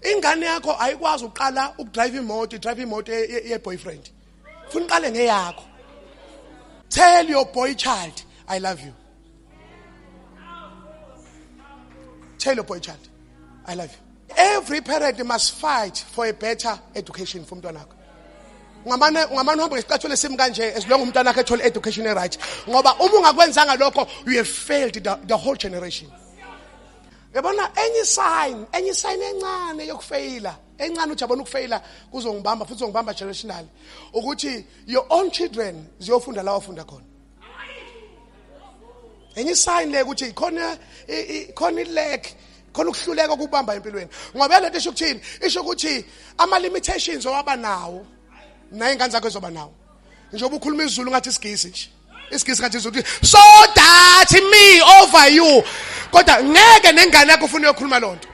ingane yakho ayikwazi uqala ukudrive imoto idrive imoto ye-boyfriend funa uqale ngeyakho tell your boy child i love you tell your boy child i love you every parent must fight for a better education for umntwana wakho ungamane ungamane uhambe ngesicathulo esimi kanje esilonga umntwana wakhe ethole education e-right ngoba uma ungakwenzanga lokho you have failed the, the whole generation yabona enye isign enye isign encane yokufeyila encane uthi yabona ukufeyila kuzongibamba futhi uzongibamba generationally ukuthi your own children ziyofunda la wafunda khona enye isign le ukuthi khona khona ilek khona ukuhluleka ukubamba empilweni ngoba lento isho ukuthini isho ukuthi ama limitations owaba nawo naye ingane zakho izoba nawo njengoba ukhuluma izulu ngathi isigisi nje isigisi kanje uzothi so that me over you kodwa ngeke nengane yakho ufuna uyokhuluma loo nto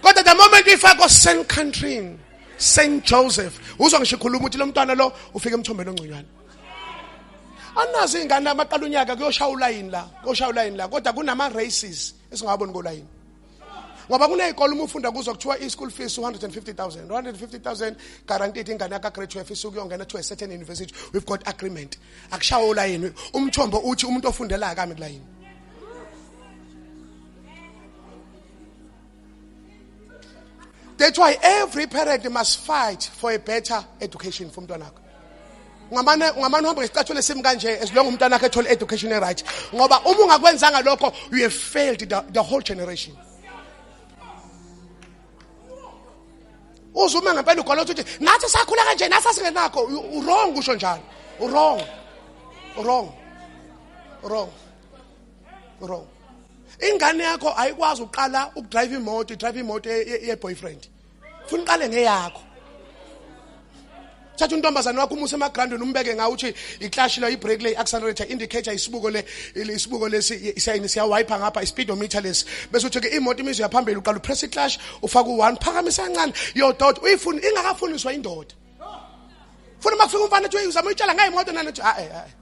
kodwa the moment ifakwa st countryni st joseph uzwa ngisho ikhuluma ukuthi lo mntwana lo ufike emthombeni ongconywana anazi iy'ngane amaqala unyaka kuyoshaya ulayini la kuyoshaya ulayini la kodwa kunama-races esingawaboni kolayini ngoba kuney'kole uma ufunda kuzo kuthiwa i-school fees 250000 250000 guaranteed ingane yakagraduate ifisa ukuyongena to a certain university we've got agreement akushawa olayini umthombo uthi umuntu ofundela akami kulayini That's why every parent must fight for a better education for mntwanakho. ungamane ungamane uhamba ngesicathulo esimi kanje as long umntana wakhe ethola education right ngoba uma ungakwenzanga lokho you have failed the, the whole generation uzume ngempela ugwala ukuthi nathi sakhula kanje nathi asingenakho wrong kusho njalo wrong wrong wrong wrong ingane yakho ayikwazi uqala ukudrive imoto idrive imoto ye-boyfriend funa uqale ngeyakho thatha untombazane wakho umuse emagrandweni umbeke ngawo uthi iclash la ibreak le accelerator indicator isibuko le isibuko lesi isayini siyawiper ngapha ispeedometer lesi bese uthi ke imoto imizwa yaphambili uqala upress iclash ufaka u1 phakamisa kancane yododa uyifuni ingakafuniswa indoda funa makufika umfana ethi uyizama uyitshala ngayo imoto nani uthi a a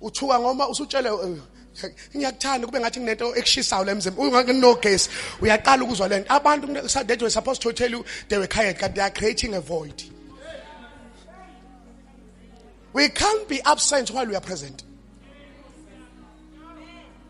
uthuka ngoma usutshele eh, ngiyakuthanda kube ngathi nginento ekushisayo la emzimba ungakunogesi uyaqala ukuzwa lento abantu that were supposed to tell you they were tired kanti they are creating a void we can't be absent while we are present